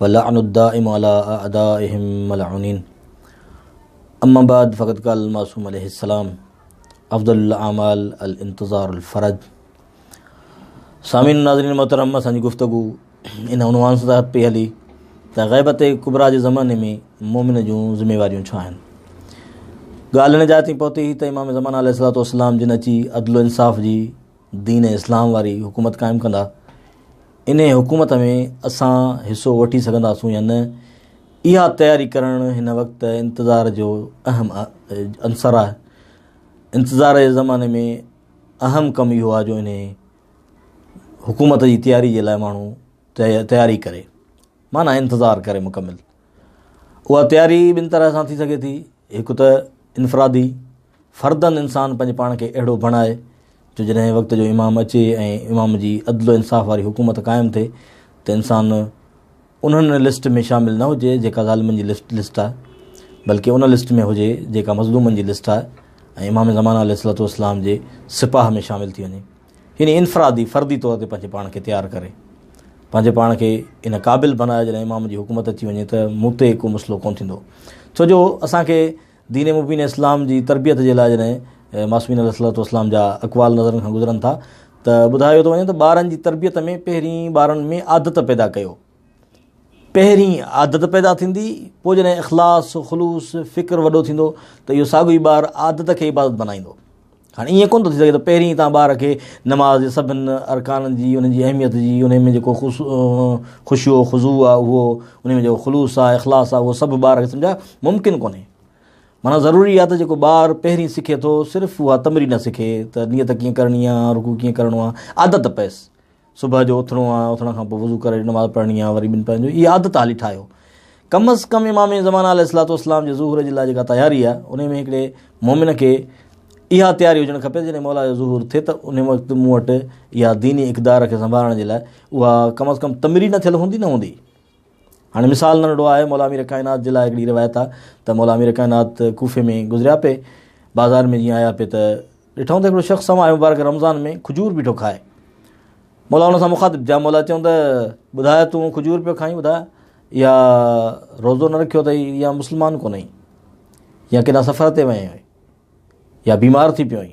واللعن الدائم علي اعدائهم ملعونين اما بعد فقد قال المعصوم عليه السلام افضل الاعمال الانتظار الفرج سامعين ناظرين محترم اسان جي گفتگو ان عنوان سان تحت پئي هلي ته غيبت ڪبرا جي زماني ۾ مومن جون ذميواريون ڇا آهن ڳالهه ان جاء تي پهتي هئي ته امام زمان عليه السلام جن اچي عدل و انصاف جي دين اسلام واري حڪومت قائم ڪندا انهي حڪومت ۾ اسان حصو وٺي سگهنداسون يا نه اها تياري ڪرڻ هن وقت انتظار جو اهم عنصر آهي انتظار جي زماني ۾ اهم ڪم اهو آهي جو انهي حڪومت جي تياري جي لاء ماڻهو تياري ڪري معنيٰ انتظار ڪري مڪمل اها تياري ٻن طرح سان ٿي سگهي ٿي، هڪ ته انفرادي، فردن انسان پنهنجي پاڻ کي اهڙو بڻائي جو جڏهن وقت جو امام اچي ۽ امام جي عدل و انصاف واري حڪومت قائم ٿئي ته انسان انهن لسٽ ۾ شامل نه هجي جيڪا ظالمن جي لسٽ لسٽ آهي بلڪه ان لسٽ ۾ هجي جيڪا مظلومن جي لسٽ آهي ۽ امام زمانه عليه الصلوة والسلام جي سپاهه ۾ شامل ٿي وڃي. يعني انفرادي، فردي طور تي پنهنجي پاڻ کي تيار ڪري، پنهنجي پاڻ کي ان قابل بنايو جڏهن امام جي حڪومت اچي وڃي ته مون تي ڪو مسئلو ڪونه ٿيندو. ڇو جو اسان کي دين مبين اسلام جي تربيت جي لاء جڏهن معصومين عليه الصلوة والسلام جا اقوال نظرن کان گذرن ٿا ته ٻڌايو ٿو وڃي ته ٻارن جي تربيت ۾ پهرين ٻارن ۾ عادت پيدا ڪيو، پهرين عادت پيدا ٿيندي، پوء جڏهن اخلاص، خلوص، فڪر وڏو ٿيندو ته اهو ساڳيو ئي ٻار عادت کي عبادت بنائيندو. هاڻي ائين ڪونه ٿو ٿي سگهي ته پهرين تان ٻار کي نماز جي سڀن ارڪانن جي انهن جي اهميت جي انهي ۾ جيڪو خوشيو خضوع آهي اهو انهي ۾ جيڪو خلوص آهي اخلاص آهي اهو سڀ ٻار کي سمجهائي ممڪن ڪونهي معنيٰ ضروري آهي ته جيڪو ٻار پهرين سکي ٿو صرف اها تمرين سکي ته نيت ڪيئن ڪرڻي آهي رڪوع ڪيئن ڪرڻو آهي عادت پئس صبح جو اٿڻو آ اٿڻ کان پوء وضو ڪري نماز پڙھڻي آ وري ٻن پنھنجو اھي عادت ھالي ٺاھيو ڪم از ڪم امام زمان عليه الصلوۃ والسلام جي ظھور جي لاء جيڪا تياري آ انھي ۾ ھڪڙي مؤمن کي اھا تياري ھجڻ کپي جڏھن مولا جو ظھور ٿئي ته انھي وقت مون وٽ اھا ديني اقدار کي سنڀالڻ جي لاء اھا ڪم از ڪم تمرين ٿيل ھوندي نه ھوندي هاڻي مثال ننڍڙو آهي، مولا امير ڪائنات جي لاء هڪڙي روايت آ ته مولا امير ڪائنات ڪوفي ۾ گذريا پي، بازار ۾ جيئن آيا پي ته ڏٺائون ته هڪڙو شخص سماء مبارڪ رمضان ۾ کجور بيٺو کائي. مولا ان سان مخاطب ٿيا، مولا چيون ته ٻڌاء تون کجور پيو کائين ٻڌاء يا روزو نه رکيو اٿئي يا مسلمان ڪونهي يا ڪيڏا سفر تي وئين هئي يا بيمار ٿي پيو هئي.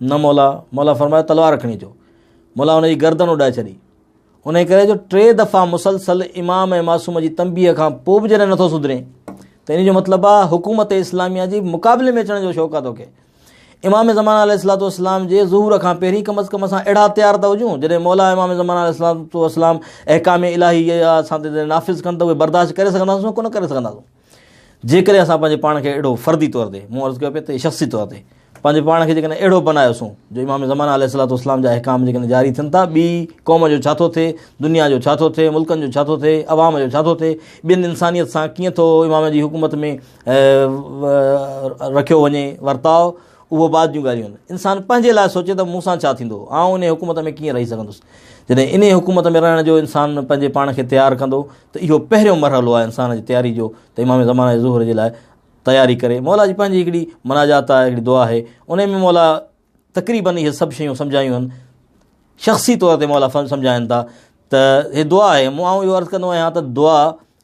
نه مولا، مولا فرمايو تلوار کڻي اچو، مولا ان جي گردن اڏائي ڇڏي، انهي ڪري جو ٽي دفعا مسلسل امام ۽ معصوم جي تنبيهه کان پوء به جڏهن نٿو سڌرين ته ان جو مطلب آهي حڪومت اسلاميه جي مقابلي ۾ اچڻ جو شوق آهي توکي امام زمانه عليه السلام والسلام جي ظهور کان پهرين کم از کم اسان اهڙا تيار ته هجون جڏهن مولا امام زمانه عليه السلام والسلام احڪام الهي اسان تي نافذ ڪن ته اهي برداشت ڪري سگهنداسون ڪو نه ڪري سگهنداسون جيڪڏهن اسان پنهنجي پاڻ کي اهڙو فردي طور تي، مون عرض ڪيو پئي ته شخصي طور تي، پنهنجي پاڻ کي جيڪڏهن اهڙو بنايوسون جو امام زمانه عليه الصلوة والسلام جا احڪام جيڪڏهن جاري ٿين ٿا، ٻي قوم جو ڇا ٿو ٿئي، دنيا جو ڇا ٿو ٿئي، ملڪن جو ڇا ٿو ٿئي، عوام جو ڇا ٿو ٿئي، ٻين انسانيت سان ڪيئن ٿو امام جي حڪومت ۾ رکيو وڃي ورتاء، اهو بعد جون ڳالهيون آهن. انسان پنهنجي لاء سوچي ته مون سان ڇا ٿيندو، آئون ان حڪومت ۾ ڪيئن رهي سگهندس. جڏهن ان حڪومت ۾ رهڻ جو انسان پنهنجي پاڻ کي تيار ڪندو، ته اهو پهريون مرحلو آهي انسان جي تياري جو ته امام زمانه ظهور جي لاء تياري ڪري مولا جي پنهنجي هڪڙي مناجات آهي هڪڙي دعا آهي انهي ۾ مولا تقريبن اهي سڀ شيون سمجهايون آهن شخصي طور تي مولا سمجهائن ٿا ته هي دعا آهي مون آئون اهو عرض ڪندو آهيان ته دعا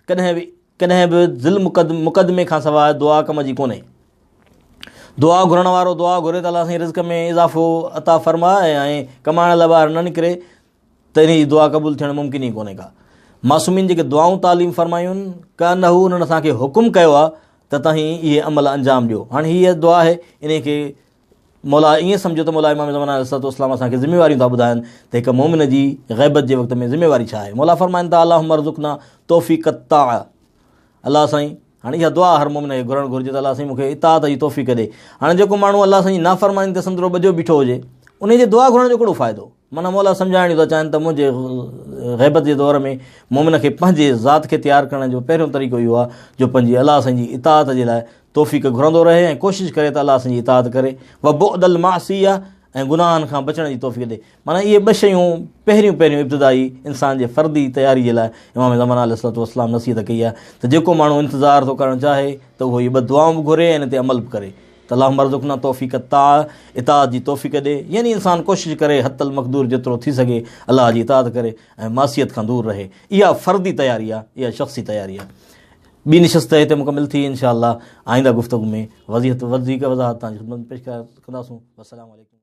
ڪڏهن به ڪڏهن به ذل مقدم مقدمي کان سواء دعا ڪم جي ڪونهي دعا گهرڻ وارو دعا گهري ته الله سائين رزق ۾ اضافو عطا فرمائي ۽ ڪمائڻ لاء ٻاهر نه نڪري ته انهيء جي دعا قبول ٿيڻ ممڪن ئي ڪونهي ڪا. معصومين جيڪي دعائون تعليم فرمايون، ڪانه هو انهن اسان کي حڪم ڪيو آهي ته توهين اهي عمل انجام ڏيو. هاڻي هيء دعا آهي، انهيء کي مولا ائين سمجهيو ته مولا امام زمان عليه الصلوة والسلام اسان کي ذميواريون ٿا ٻڌائن ته هڪ مؤمن جي غيبت جي وقت ۾ ذميواري ڇا آهي. مولا فرمائن ٿا اللهم ارزقنا توفيق الطاعة الله سائين هاڻي اها دعا هر مؤمن کي گهرڻ گهرجي ته الله سائين مون کي اطاعت جي توفيق ڏي. هاڻي جيڪو ماڻهو الله سائين جي نافرماني تي سندرو ٻجهو بيٺو هجي، انهيء جي دعا گهرڻ جو ڪهڙو فائدو؟ معنيٰ موليٰ سمجهائڻ جو ٿا چاهن ته منهنجي غيبت جي دور ۾ مومن کي پنهنجي ذات کي تيار ڪرڻ جو پهريون طريقو اهو آهي جو پنهنجي الله سائين جي اطاعت جي لاء توفيق گهرندو رهي ۽ ڪوشش ڪري ته الله سائين جي اطاعت ڪري و بعد المعصيه ۽ گناهن کان بچڻ جي توفيق ڏي معنيٰ اهي ٻه شيون پهريون پهريون ابتدائي انسان جي فردي تياري جي لاء امام زمانه عليه الصلوة والسلام نصيحت ڪئي آهي ته جيڪو ماڻهو انتظار ٿو ڪرڻ چاهي ته اهو اهي ٻه دعائون به گهري ۽ ان تي عمل به ڪري اللهم ارزقنا توفيق الطاعه اطاعت جي توفيق ڏي يعني انسان ڪوشش ڪري حت المقدور جيترو ٿي سگهي الله جي اطاعت ڪري ۽ معصيت کان دور رهي اها فردي تياري آهي اها شخصي تياري آهي ٻي نشست هتي مڪمل ٿي انشاءالله آئنده گفتگو ۾ وضيحت وڌيڪ وضاحت تان خدمت پيش ڪنداسون السلام عليڪم